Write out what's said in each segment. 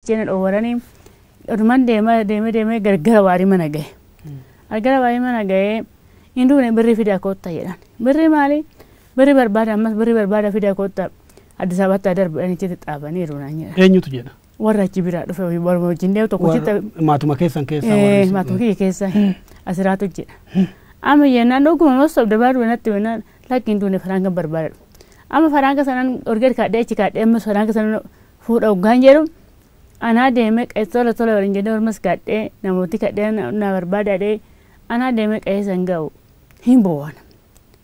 Jena dhowarani oduman deema deeme deeme gargara waarii mana gahe. Argara waarii mana gahe hin duune birrii fidaa kootta jedhan. Birrii maali? Birrii barbaada ammas birrii barbaada fidaa kootta Addis Ababaatti darbidhan itti xaabaniiru naan jedhan. Eenyutu jedha? Warra achi biraa dhufe hojii barma wajjin deemu tokko Warra- chitta Maatuma keessan keessaa warri Eh, isin- maatuma kiyya keessa asiraatu jedha. Amma jennaan dhuguma mas sobda baaduu natti jennaan lakki hin duune faraangan barbaadadhu. Amma faraanga sanan orgeed kaadhee achi kaadhee ammas faraanga sanan fuudha hoggaan jedhu anaa deemee qa'ee tola tola waliin jennee ormas gaadhee namooti kadhee na barbaada dhee anaa deemee qa'ee san ga'u hin boowana.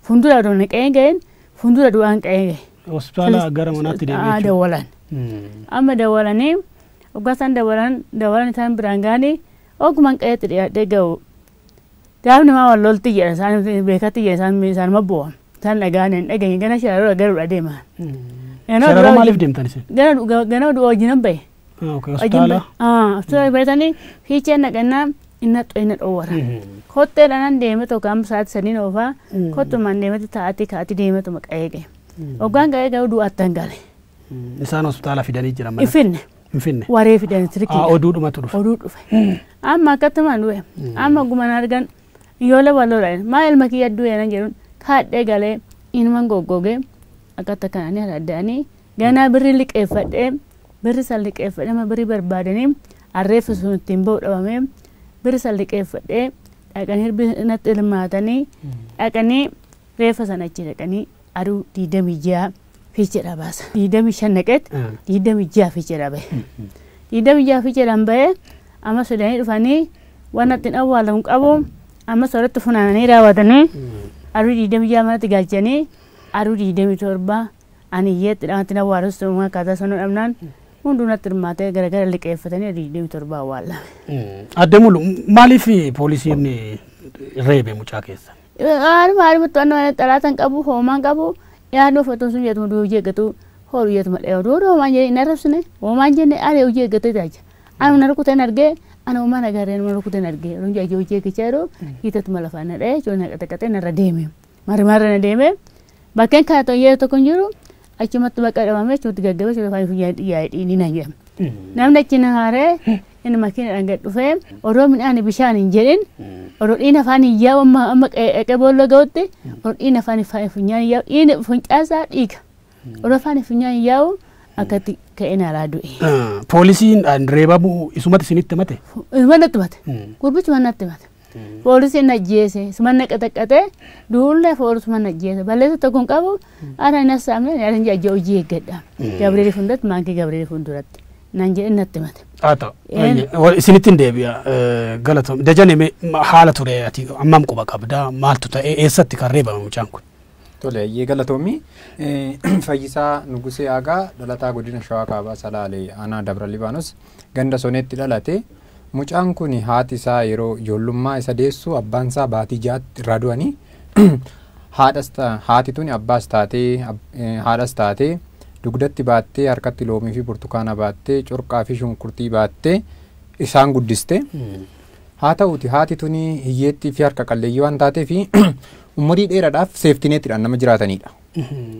Fuuldura odoo na qa'ee ga'een fuuldura du'aan qa'ee ga'e. Hospitaala gara manaatti deemee Aa jechuudha. dawwalan. Amma dawwalanii hoggaa isaan dawwalan dawwalan isaan biraan ga'anii ogumaan qa'eetti dhiyaadhee ga'u Gaaf namaa wal lolti jedha isaan beekatti jedha isaan isaanuma bu'a. Isaan dhagaan hin dhageenye gana shararoora garuudha deema. Ganama Shararoo duraa maaliif wajjin- deemtan isin? Ganama du- ganama duraa wajjin hin bahe. Ah, okay, Hospitaala. Hospitaala baratanii fiichee naqannaa inna inna dhoowwata. Kottee dhanan deeme tokko amma sa'aatii sadiin oofaa Mm. kottumaan deemati taa'atii kaa'atii deematu maqaa eege. Hoggaan ga'ee garuu du'aatti hin gale. Isaan hospitaala fidanii jiran mana. Iffinne. hin finne. waree fidan Haa sirkiidha. oduu dhumatu dhufe. Oduu dhufe. Amma akkattumaan du'e. Amma guman argan ijoollee wal lola jedhan. Maa ilma kiyya du'e nan jedhuun kaadhee galee inuman goggogee akkatti akkananii haradda'anii ganaa birrii liqeeffadhee birri san liqeeffadhee amma birrii barbaadanii arreeffi sun ittiin ba'u dhabamee birri san liqeeffadhee dhaqanii hirbii natti hirmaatanii dhaqanii reeffa sana achi dhaqanii Aduu 26 fiicheedhaa baasa. 25 naqeet 26 fiicheedhaa bahe. 26 fiicheedhaan bahe amma sodanii dhufanii waan ittiin awwaalamu qabu amma soratti funaananii raawwatanii aduu 26 manatti galchanii aduu 27 ani iyyeetti dhaamatti awwaalus ta'uu akkaataa sanuu dhabnaan hunduu natti hirmaatee garagara liqeeffatanii aduu 27 awwaallame. Adde Mulu maaliif poolisiin reebe mucaa keessan? Haadhuma haadhuma to'annoo ala xalaata hin qabu hoomaa hin qabu yaaduu fotoon sun yaaduma du'ee hojii eeggatu hoodhu yaaduma dha yaaduu hoodhu hoomaan jedhee hin arrabsine hoomaan jenne ani hojii eeggatu jaaja anuma na rukuteen argee ana hoomaa na gaaree nama rukuteen argee yeroo jaajee hojii eeggachaa jiru hiitatuma lafaa na dha'ee ijoollee na qaxaqaxee narra deeme marri marra na deeme Bakkeen kana tokko yeroo tokko hin jiru achumatti bakka dhabamee achumatti gaggabee achumatti faayii funyaan dhiyaa'ee dhiinii nan jedhama. Namni achi na haaree inni makiinadhaan gad dhufee odoo midhaan bishaan hin jedhin odoo dhiina afaan hin yaa'u amma amma qe'ee boolla ga'utti odoo dhiina afaan hin faayii funyaan hin yaa'u dhiina funcaasaa dhiiga. Odoo afaan hin funyaan hin yaa'u akkatti ka'ee naaraa du'e. Poolisiin reebamuu isumatti isinitti mate. Manatti mate. Gurbichi manatti mate. Poolisiin na ajjeese. Suman na qaxaqqaxee duullee foolisuman na ajjeese. Balleessa tokko hin qabu. Ana hin hassaamne ani hin ajja hojii eeggadha. Gabriel fuulduratti maankii Gabriel fuulduratti. Nan jedhe natti himate. Haa ta'u. Een. Ayye. Wa- Isinitti hin deebi'a. Eh, Galatoom. Dajane mee ma- haala ture ati ammam quba qabda maaltu ta'e eessatti kan reebame mucaan kun? Tole ayyee galatoomi. Eh, Fayyisaa Nugusee Aagaa dhalataa godina Shawaa Kaabaa Salaalee aanaa Dabra Libaanos ganda Soneetti dhalate. Mucaan kun haati isaa yeroo ijoollummaa isa deessu abbaan isaa baatii ja'atti irraa du'ani. Haadhas ta- haati tuni abbaas taatee ab- eh, haadhas taatee dugdatti baattee harkatti loomii fi burtukaana baattee corqaa fi shunkurtii baattee isaan guddiste. Haa ta'uuti haati tuni hiyyeettii fi harka qalleeyyii waan taateef umurii dheeraadhaaf seeftineetidhaan nama jiraatanidha.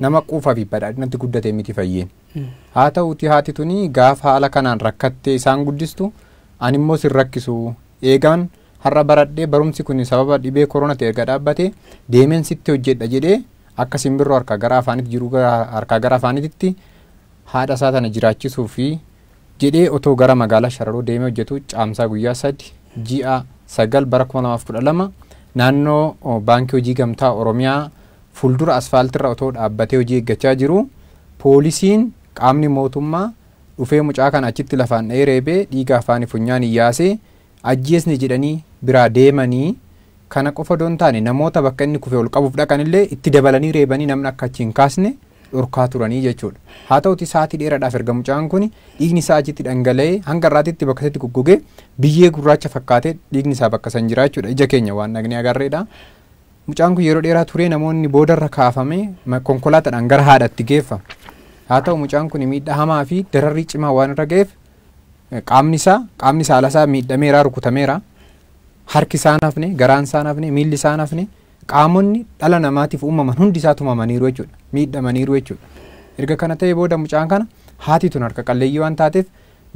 Nama quufaa fi badhaadhinatti guddate miti fayyeen. Haa ta'uutii haati tuni gaafa haala kanaan rakkattee isaan guddistu ani immoo sin rakkisu eegaan har'a baradhee barumsi kuni sababa dhibee koronati erga dhaabbate deemeen sitti hojjedha jedhee akka simbirroo harkaa gara afaaniti jiruu gara harkaa gara afaanititti haadha isaa tana jiraachisuufi jedhee otoo gara magaalaa Shararoo deemee hojjetu Caamsaa guyyaa sadi ji'a sagal bara 2012 naannoo Baankii Hojii Gamtaa Oromiyaa fuuldura asfaaltirra otoo dhaabbatee hojii eeggachaa jiru Poolisiin, qaamni mootummaa, dhufee mucaa kana achitti lafaan dha'ee reebee dhiiga afaani funyaani yaasee ajjeesne jedhanii biraa deemanii kana qofa odoo hin taane namoota bakka inni kufe ol qabuuf dhaqan illee itti dabalanii reebanii namni akka achi hin kaasne dhorkaa turanii jechuudha. Haa ta'uti sa'aatii dheeradhaaf erga mucaan kuni dhiigni isaa achitti dhangala'ee hanga har'aatitti bakka isatti goggogee biyyee gurraacha fakkaatee dhiigni isaa bakka san jiraa jechuudha. Ija keenya waan dhagnee agarreedha. Mucaan kun yeroo dheeraa turee namoonni boodarra kaafamee ma- konkolaataadhaan gara haadhatti geeffame. Haa ta'u mucaan kun miidhaa hamaa fi dararrii cimaa waan irra ga'eef eh, qaamni isaa qaamni saala isaa miidhameera rukutameera. Harki isaa hin hafne, garaan isaa hin hafne, miilli isaa hin hafne qaamonni dhala namaatiif uumaman hundi isaa tumamaniiru jechuudha. Miidhamaniiru jechuudha. Erga kana ta'e booda mucaan kana haati tun harka qalleeyyii waan taateef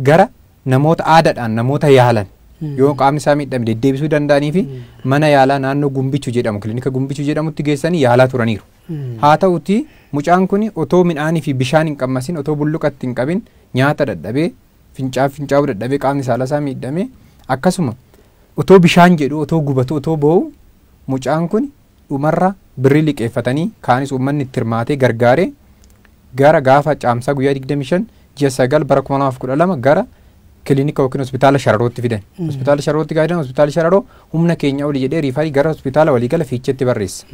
gara Namoota aadaadhaan namoota yaalan yoo qaamni isaa miidhame deddeebisuu danda'anii fi mana yaalaa naannoo Gumbichu jedhamu kilinika Gumbichu jedhamutti geessanii yaalaa turaniiru. Haa ta'uti mucaan kun otoo midhaanii fi bishaan hin qabmasin otoo bulluqatti hin qabin nyaata dadhabee fincaa fincaa'uu dadhabee qaamni saalaa isaa miidhame akkasuma otoo bishaan jedhu otoo gubatu otoo boo'u mucaan kun dhumarra birrii liqeeffatanii kaanis uummanni itti hirmaatee gargaaree gara gaafa Caamsaa guyyaa 25 ji'a 9 bara 2012 gara kilinika yookiin hospitaala Shararootti fidan. Hospitaala Shararootti gaafa fidan hospitaala Shararoo humna keenya oli jedhee riifarii gara hospitaala waliigala Fiicheetti barreessa.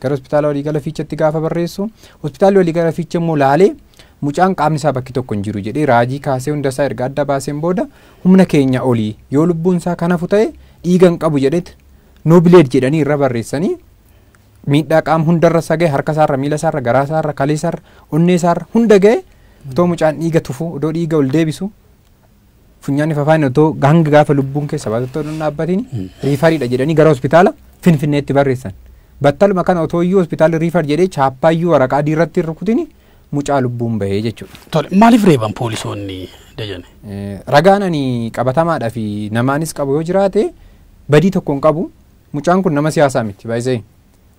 Gara hospitaala waliigala Fiicheetti gaafa barreessu hospitaalli waliigala Fiichee immoo laalee mucaan qaamni isaa bakki tokko hin jiru jedhee raajii kaasee hunda isaa erga adda baaseen booda humna keenya olii yoo lubbuun isaa kanafu ta'e dhiiga hin qabu jedheet no blade jedhanii irra barreessanii miidhaa qaama hundarra isa gahe harka isaarra miila isaarra garaa isaarra kalee isaarra onnee isaarra hunda gahe otoo mucaan dhiiga tufu otoo dhiiga ol deebisu funyaanni fafaan otoo hanga gaafa lubbuun keessa baatu otoo hin dhaabbatiin riifariidha jedhanii gara hospitaala finfinneetti barreessan battaluma kana otoo iyyuu hospitaala riifar jedhee chaappaa iyyuu waraqaa diirratti hin rukutin mucaa lubbuun bahee jechuudha. Tole maaliif reeban poolisoonni dajane? Eh, Ragaan ani qabatamaadha fi namaanis qabu yoo jiraate badii tokko hin qabu. Mucaan kun nama siyaasaa miti baay'isee.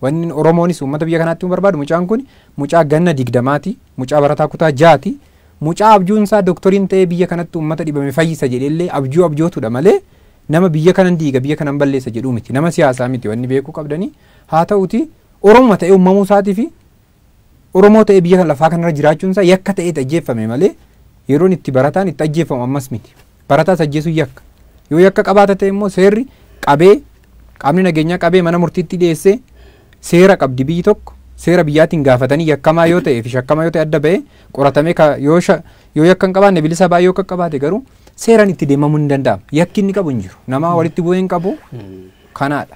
Wanni Oromoonis uummata biyya kanaatti himuu barbaadu mucaan kun mucaa ganna digdamaati, mucaa barataa kutaa jaati, mucaa abjuun isaa doktoriin ta'ee biyya kanatti uummata dhibame fayyisa jedheellee abjuu abjootudha malee nama biyya kanan diiga biyya kanan balleessa jedhuu miti. Nama siyaasaa miti wanni beekuu qabdanii. Haa ta'uti Oromuma ta'ee uumamuu isaatii fi Oromoo ta'ee biyya kana lafaa kanarra jiraachuun isaa yakka ta'eeti ajjeeffame malee yeroon itti barataan itti ajjeeffamu ammas miti. Barataas ajjeesuun yakka. Yoo yakka qabaata ta'e immoo seerri qabee qaamni nageenyaa qabee mana murtiitti dhiyeessee seera qabdi biyyi tokko seera biyyaatiin gaafatanii yakkamaa yoo ta'ee fi shakkamaa yoo ta'e adda ba'ee qoratamee ka- yoo sha- yoo yakka hin qabaanne bilisa ba'ee yoo qaqqabaate garuu seeraan itti deemamuun hin danda'amu. Yakki inni qabu hin jiru. Nama walitti bu'ee hin qabu kanaadha.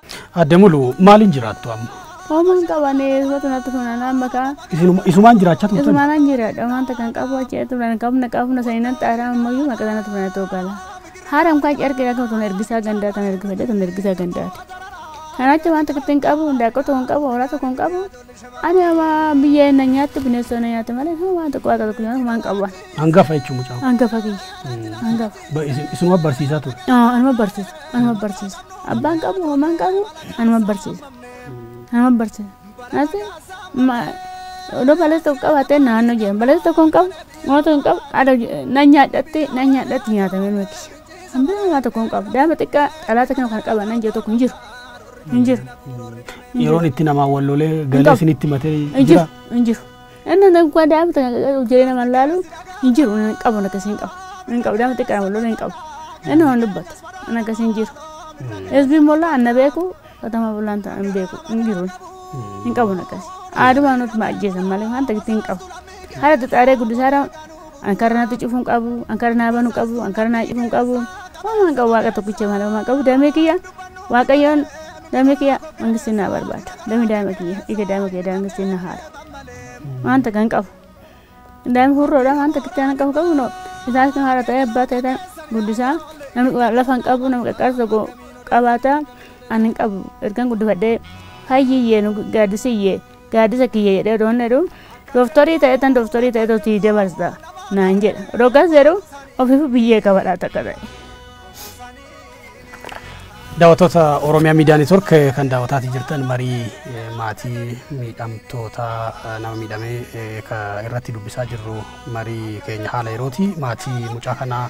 Adde Mulu maaliin jiraattu amma? Homaa hin qabane isatu natti funan amma kaa Isinuma- Isumaan jiraachaa turtan? isumaanan jiraadha waan takka hin qabu achi irratti funan qabna qabna sanii nan xaaraa ammayyuu maqaa sanatti funan ta'uu gala. Haadha mukaa achi argina kan tun ergisaa gandaa tan ergifadhe tun ergisaa gandaati. Kan achi waan takka itti hin qabu daaqoo tokko hin qabu hoolaa tokko hin qabu Ani ama biyya hin nyaattu bineensota na nyaattu malee kan waan tokko waaqa tokko nyaatu waan qabu waan. Hangafa jechuun mucaan. Hangafa kiyya. Hangafa. Ba- isin- Isinuma barsiisaa ture. Aa, Anuma barsiisa. Anuma barsiisa. Abbaan qabu homaan qabu anuma barsiisa. Anuma barsiisa. Ati ma odoo balesa tokko qabaatee naannoo jedhan balesa tokko hin qabu mootoo hin qabu adda na nyaadhatti na nyaadhatti nyaatame miti. Hambira homaa tokko hin qabu daa'ima xiqqaa dhalaata kana kan qaban nan jedhu tokko hin jiru. Hin jiru. Yeroon itti namaa wal lolee galee qabu. isinitti matee Hin jiru. jira. Hin jiru. Inni nagaa daa'imta hojii nama laalu hin jiru. Inni hin qabu akkasii hin qabu. Inni hin qabu daa'imta xiqqaa wal lolee hin qabu. Inni waan dubbatu. Inni akkasii hin jiru. Hizbiin mollaa anna beeku katama bullaan ta'a hin beeku. Hin jiru. Hin qabu akkasii. Aadumaan nuti ma ajjeesan malee waan ta'etti hin qabu. Haala xixaaree guddisaadhaan An kara natti cufu hin qabu, an kara naa banu hin qabu, an kara naa cufu hin qabu. Homaa hin qabu waaqa tokkicha malee homaa hin qabu damee kiyya waaqayyoon damee kiyya mangistiin naa barbaada. Damee daa'ima kiyya dhiiga daa'ima kiyya daangistiin na haara. Waan takka hin qabu. Daa'ima hurroodha waan takka itti aanan qabu qabu noo. Isaas kan haadha ta'e abbaa ta'e ta'e guddisaa namni waa- lafa hin qabu namni qaqqaarsa tokko qabaata. An hin qabu ergan guddifadhee hayyiyyee nu gaadisiyyee. Gaaddisa kiyya jedhee odoo inni jedhu dooftorii ta'etan dooftorii ta'etu sii dabarsa naan jedha. Odoo akkas jedhu ofiifuu biyyee qabadhaa takka ta'e. Daawwattoota Oromiyaa Miidiyaa Neetwork kan daawwataatii jirtan marii eh, maatii miidhamtoota eh, nama miidhamee eh, ka irratti dubbisaa jirru marii keenya haala yerooti. Maatii mucaa kanaa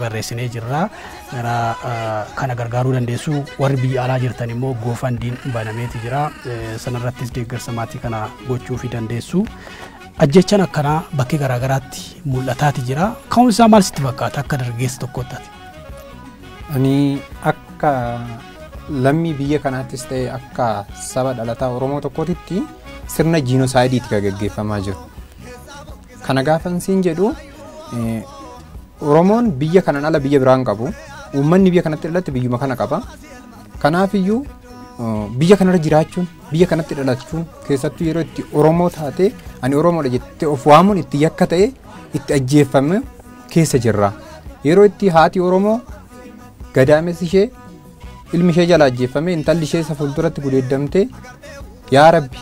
barreessinee jirra. Gara kana gargaaruu dandeessu warri biyya alaa jirtan immoo goofandiin banameeti jira. Sanarrattis deeggarsa maatii kana gochuufi dandeessu. Ajjechaan akkanaa bakkee garaagaraatti mul'ataati jira. Ka'uun isaa maal sitti fakkaata akka dargaggeessa tokkootti ati? Ani akka lammii biyya kanaattis ta'e akka saba dhalataa Oromoo tokkootitti sirna jiinoosaayidii itti gaggeeffamaa jiru. Kana gaafan siin jedhu Oromoon biyya kanan ala biyya biraan qabu. Uummanni biyya kanatti dhalate biyyuma kana qaba. Kanaafiyyuu biyya kanarra jiraachuun biyya kanatti dhalachuun keessattuu yeroo itti Oromoo taate ani Oromoodha jettee of waamuun itti yakka ta'e itti ajjeeffame keessa jirra. Yeroo itti haati Oromoo gadaamessi ishee ilmi ishee jala ajjeeffame intalli ishee isa fuulduratti gudeeddamtee yaa rabbi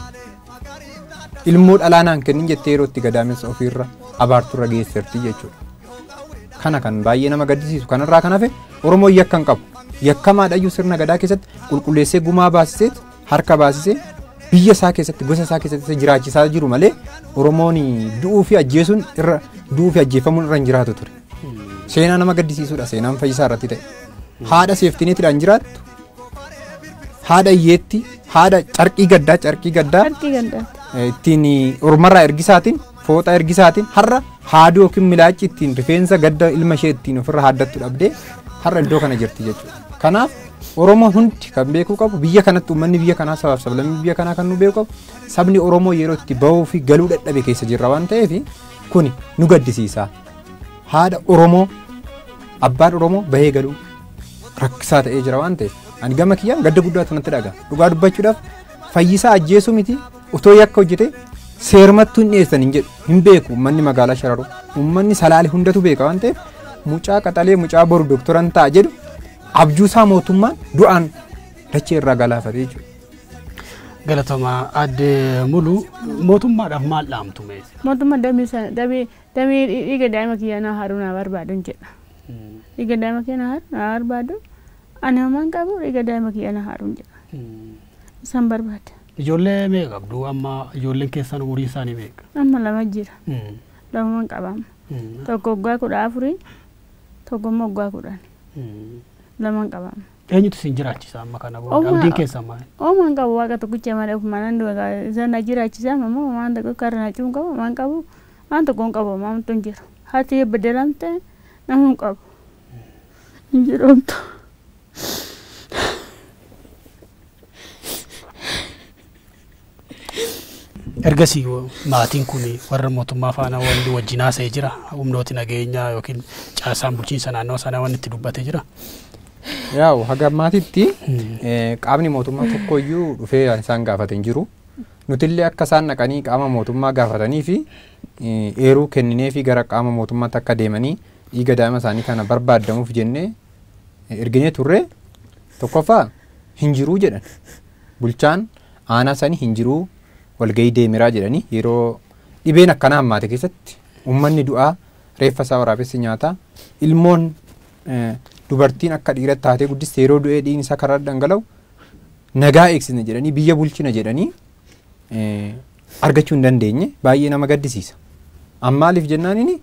ilmoo dhalaa naan kennin jettee yeroo itti gadaamessa ofiirra abaarturra geesserti jechuudha. Kana kan baay'ee nama gaddisiisu kanarraa kan hafe Oromoo yakka hin qabu. Yakkamaadhayyuu sirna gadaa keessatti qulqulleessee gumaa baasisee harka baasisee biyya isaa keessatti gosa isaa keessatti isa jiraachisaa jiru malee Oromoon du'uu fi ajjeesuun irra du'uu fi ajjeefamuun irra hin jiraatu ture. Seenaa nama gaddisiisuudha seenaan fayyisaa irratti ta'e. Haadha seeftineetidhaan jiraattu. Haadha hiyyeetti. Haadha carqii gaddaa carqii gaddaa Harki gandaatti. eh, ittiin ormarraa ergisaatiin fooxaa ergisaatiin har'a haaduu yookiin milaachi ittiin rifeensa gadda ilma ishee ittiin ofirra haaddattu dhabdee har'a iddoo kana jirti jechuudha. Kanaaf Oromoo hundi kan beekuu qabu biyya kanatti uummanni biyya kanaa sabaaf sablammii biyya kanaa kan nu beeku qabu sabni Oromoo yeroo itti bahuu fi galuu dadhabe keessa jirra waan ta'eef kuni nu gaddisiisa. haadha Oromoo abbaan Oromoo bahee galuu rakkisaa ta'ee jira waan ta'eef ani gama kiyyaan gadda guddaa tunatti dhaga dhugaa dubbachuudhaaf fayyisaa ajjeesuu miti otoo yakka hojjete seermattuu hin dhiyeessan hin jedhu hin beeku uummanni magaalaa shararuu uummanni salaale hundatu beeka waan ta'eef mucaa qaxalee mucaa boru doktoran ta'a jedhu abjuusaa mootummaan du'aan dachee irraa galaafate jechuudha. Galatoomaa aadde Muluu mootummaadhaaf maal dhaamtu mee? Mootummaa damee Damee dhiiga daa'ima kiyyaa naa haru naa barbaadun jedha. Dhiiga daa'ima kiyya naa haru naa barbaadu ani homaan qabu dhiiga daa'ima kiyya naa haruun jedha. Isan barbaada. Ijoollee meeqa qabdu amma ijoolleen keessan umurii isaanii meeqa? Amma lama jira. Lamuman qaba amma. Tokko waggaa kudha afurii tokko immoo waggaa kudhani. Laman qaba amma. Eenyutu isin jiraachisa amma kana booda? Omaa- Abdiin keessan maal? Homaan qabu waaqa tokkicha malee ofumaan an du'a isan na jiraachisa amma immoo homaan tokko karra na cuun qabu homaan qabu Waan tokko hin qabu maamtu hin jiru. Haati yoo bedelamte namuu hin qabu. Hin jiru omtu. Ergasii maatiin kun warra mootummaa faana wanti wajjin haasa'ee jira. Humnooti nageenyaa yookiin caasaan bulchiinsa naannoo sanaa wanti itti dubbatee jira. Yaa'u haga ammaatitti qaamni mootummaa tokkoyyuu dhufee isaan gaafate hin jiru. Nutillee akka isaan dhaqanii qaama mootummaa gaafatanii fi eeruu kennineefii gara qaama mootummaatti akka deemanii dhiiga daa'ima isaanii kana barbaaddamuuf jennee erginee turre tokkoffaa hin jiruu jedhan. Bulchaan aanaa sanii hin jiruu walgahii deemeraa jedhanii yeroo dhibeen akkanaa hammaate keessatti uummanni du'aa reeffa isaa waraabessi nyaataa ilmoon eh, dubartiin akka dhiiratti taatee guddiste yeroo du'ee dhiigni isaa karaa dhangala'u nagaa eegsisna jedhanii biyya bulchina jedhanii argachuu hin dandeenye baay'ee nama gaddisiisa. An maaliif jennaan inni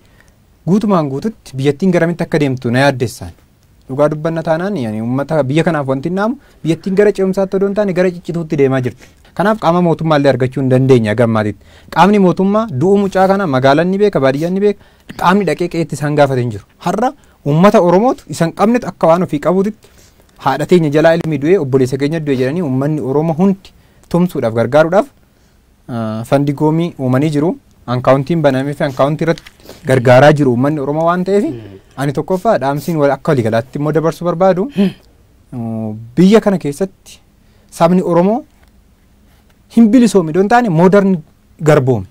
guutumaan guututti biyyattiin garamitti akka deemtu na yaaddessaan. Dhugaa dubbanna taanaan yani uummata biyya kanaaf wanti naamu biyyattiin gara ce'umsaatti odoo hin taane gara ciccituutti deemaa jirti. Kanaaf qaama mootummaa illee argachuu hin dandeenye hanga ammaatitti. Qaamni mootummaa du'uu mucaa kana magaalaan ni beeka baadiyyaan ni beeka qaamni dhaqee qe'eetti isaan gaafate hin jiru. Har'a uummata Oromootu isan qabnetu akka waan ofii qabuutitti Haadha teenya jalaa ilmi du'e, obboleessa keenya du'e jedhanii uummanni Oromoo hundi tumsuudhaaf gargaaruudhaaf fandi goomii uumanii jiru. Ankaawuntiin banamee fi ankaawuntii irratti gargaaraa jiru uummanni Oromoo waan ta'eef ani tokkoffaa dhaamsiin wal akka waliigalaatti immoo dabarsuu barbaadu biyya kana keessatti sabni Oromoo hin bilisoome idoo hin taane moodarni garboome.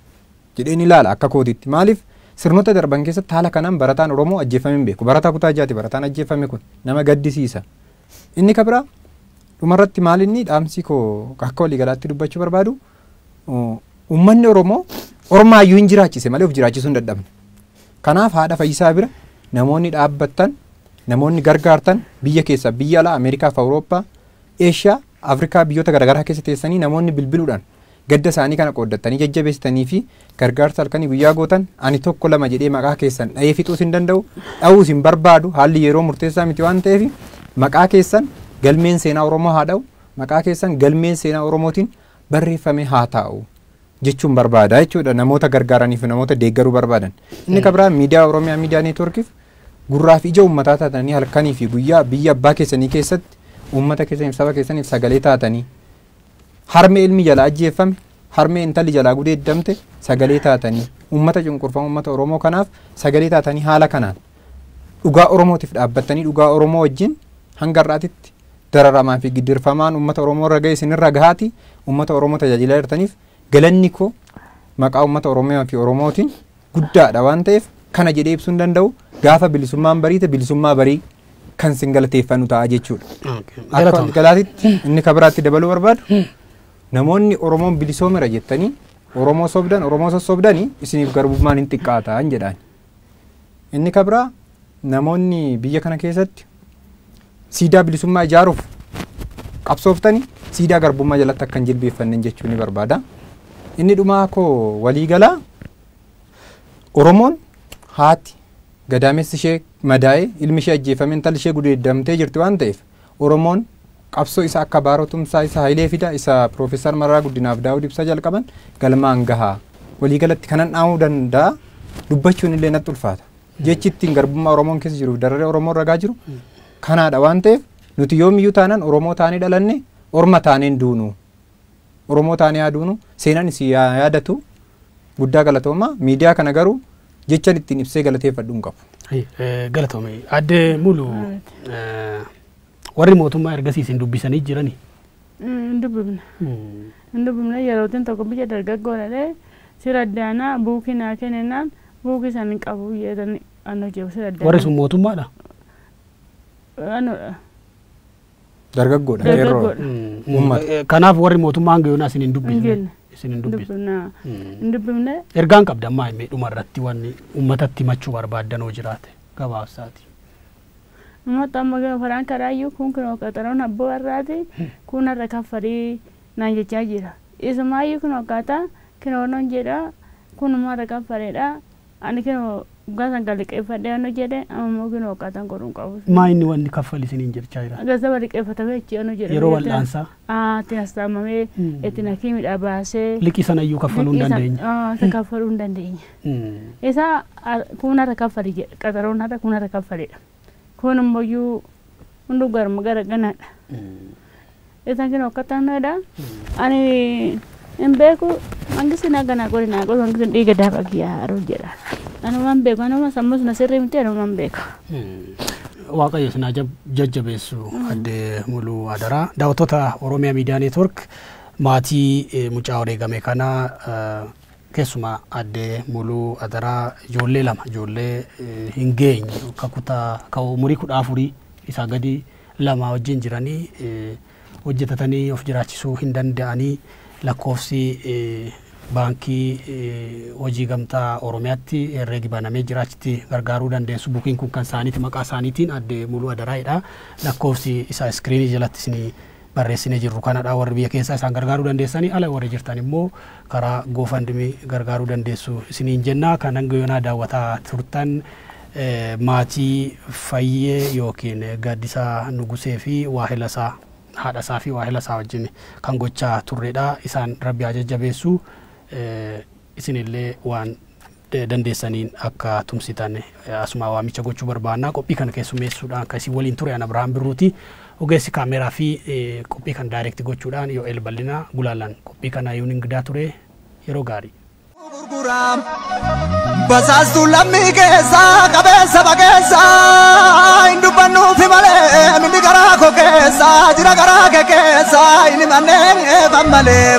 jedheen ilaala akka kootiitti. Maaliif sirnoota darban keessatti haala kanaan barataan Oromoo ajjeeffamee hin beeku. Barataa kutaa jaati barataan ajjeeffame kun. Nama gaddisiisa. Inni ka biraa dhumarratti maal inni dhaamsi koo akka waliigalaatti dubbachuu barbaadu uummanni Oromoo ormaa iyyuu hin jiraachise malee of jiraachisuu hin dadhabne. Kanaaf haadha fayyisaa bira namoonni dhaabbattan namoonni gargaartan biyya keessaa biyya alaa Ameerikaa fi Awurooppaa Eeshiyaa Afrikaa biyyoota garagaraa keessa teessanii namoonni bilbiluudhaan gadda isaanii kana qooddattanii jajjabeessitanii fi gargaarsa halkanii guyyaa gootan ani tokko lama jedhee maqaa keessan dhahee fixuus hin danda'u dhahuus hin barbaadu haalli yeroo murteessaa miti waan ta'eef maqaa keessan galmeen seenaa Oromoo haa dhahu maqaa keessan galmeen seenaa Oromootiin barreeffamee haa taa'u jechuun barbaada jechuudha namoota gargaaranii fi namoota deeggaruu barbaadan. Inni kan biraan miidiyaa Oromiyaa miidiyaa neetwoorkiif gurraa fi ija uummataa taatanii halkanii fi guyyaa biyya abbaa keessanii keessatti uummata keessaniif saba keessaniif sagalee taatanii harmee ilmi jalaa ajjeeffame harmee intalli jalaa gudeeddamte sagalee taatanii uummata cunqurfamu uummata Oromoo kanaaf sagalee taatanii haala kanaan dhugaa Oromootiif dhaabbattanii dhugaa Oromoo wajjin hanga har'aatitti dararamaa fi gidirfamaan uummata Oromoo irra ga'e isinirra gahaati uummata Oromoo tajaajilaa jirtaniif galanni koo maqaa uummata Oromiyaa fi Oromootiin guddaadha waan ta'eef kana jedhee ibsuu hin danda'u gaafa bilisummaan bariite bilisummaa barii kan sin galateeffannu ta'a jechuudha. Akka Galatoomi. galaatitti inni kan biraatti dabaluu barbaadu namoonni Oromoon bilisoomera jettanii Oromoo sobdan Oromoo sossobdanii isiniif garbummaan hin xiqqaataan jedhaan. Inni kabraa namoonni biyya kana keessatti siidaa bilisummaa ijaaruuf qabsooftani siidaa garbummaa jalatti akka hin jilbeeffannen jechuu ni barbaada. Inni dhumaa koo walii galaa Oromoon haati gadaamessi ishee madaa'ee ilmi ishee ajjeefame intalli ishee gudeeddamtee jirti waan ta'eef Oromoon qabsoo isa akka Baaroo Tumsaa, isa Hayilee Fidaa, isa Piroofeesar Mararaa Guddinaa fi Daawud Ibsaa jalqaban galmaan gaha. Walii galatti kanan dhaamuu danda'a dubbachuun illee natti ulfaata. Jechi ittiin garbummaa Oromoon keessa jiruuf dararee Oromoon ragaa jiru kanaadha waan ta'eef nuti yoomiyyuu taanaan Oromoo taanee dhalanne orma taaneen duunu. Oromoo taanee haa duunu seenaan isin yaa yaadatu guddaa galatoomaa miidiyaa kana garuu jechan ittiin ibsee galateeffadhu hin qabu. Ayyi, eh, Galatoome. Adde Mulu eh, warri mootummaa ergasii isin dubbisanii jirani. Hin dubbifne. Hin dubbifne yerootiin tokko biyya dargaggoo dhalee sira addaanaa buukii naa kennennaan buukii san hin qabu jedhanii anoo jiru sira addaanaa. Warri sun mootummaadha. Anodha. Dargaggoodha. Qeerroo. Dargaggoodha. Uummata. Eh, Kanaaf warri mootummaa hanga yoonaa isin hin Hin dubbisne. genne. Isin hin dubbisne. Dubbifna. Hin dubbifne. Ergaan qabda ammaa himee dhuma irratti wanni uummatatti himachuu barbaaddanoo jiraate gabaabsaati. Uummata amma gama faraan karaayyuu kun kunoo qaxaroon abboo har'aati kun har'a kaffalii naan jechaa jira. Isumaayyuu kun akkaataa kinoon jedha kun immoo har'a kaffaleedha Ani kinoo waggaa sagal liqeeffadhee anu jedhe amma immoo kinoo waggaa tan godhuun qabu. Maa inni wanni kaffali isiniin jechaa jira. Gazzaba liqeeffatamee achi anu jedhe. Yeroo biyya tana- wal'aansaa? Aa, itti nastaamamee Mm. itti nakiimidhaa baasee. Liqii sana iyyuu kaffaluu hin liqii sana- dandeenye. Aa, isa kaffaluu hin dandeenye. Mm. Isa ar- kun har'a kaffali jedhe qaxaroon har'a kun har'a kaffalidha. Kun immoo iyyuu hunduu garma gara ganaadha. Isan kinu akkataan dha. Ani hin beeku mangisi na ganaa godhe naa godhe mangisi dhiiga daaba kiyyaa haruu jedha. Anuma hin beeku anuma sammus na sirrii miti anuma hin beeku. Waaqayyo isin haa jab- jajjabeessu adde muluu adaraa daawwattoota Oromiyaa Miidiyaa Neetwork maatii eh, mucaa wareegame kana eh, Keessumaa Aadde Muluu adaraa ijoollee lama ijoollee hin geenye ka kutaa ka umurii kudha afurii isaa gadi lama wajjin jiranii hojjetatanii of jiraachisuu hin danda'anii lakkoofsi baankii hojii gamtaa Oromiyaatti herreegi banamee jira achitti gargaaruu dandeessu bukiin kun kan isaaniiti maqaa isaaniitiin Aadde Muluu Adaraa'idha lakkoofsi isaa iskiriinii jalatti isinii barreessine jirru kanadha warri biyya keessaa isaan gargaaruu dandeessanii ala warri jirtan immoo karaa GoFundMe gargaaruu dandeessu isiniin jenna kan hanga yoonaa daawwataa turtan eh, maatii fayyee yookiin gaaddisaa nugusee fi waahilasaa haadhasaa fi waahilasaa wajjin kan gochaa turredha isaan rabbi haa jajjabeessu eh, Isinillee waan dandeessaniin akka tumsitan asumaa waamicha gochuu barbaanna. Qophii kana keessummeessuudhaan kan isin waliin ture an Abrahaam Birruuti. Ogeessi kaameeraa fi qophii kan daayirekti gochuudhaan Yo'el Bal'inaa gulaalaan qophii kana yuun ingidaa ture yeroo gaarii. gurguraam basaastuu lammii keessa qabeessa bageessa hin dubbannuufi malee minni garaa koo keessa jira garaa kee keessa hin himannee eefan malee.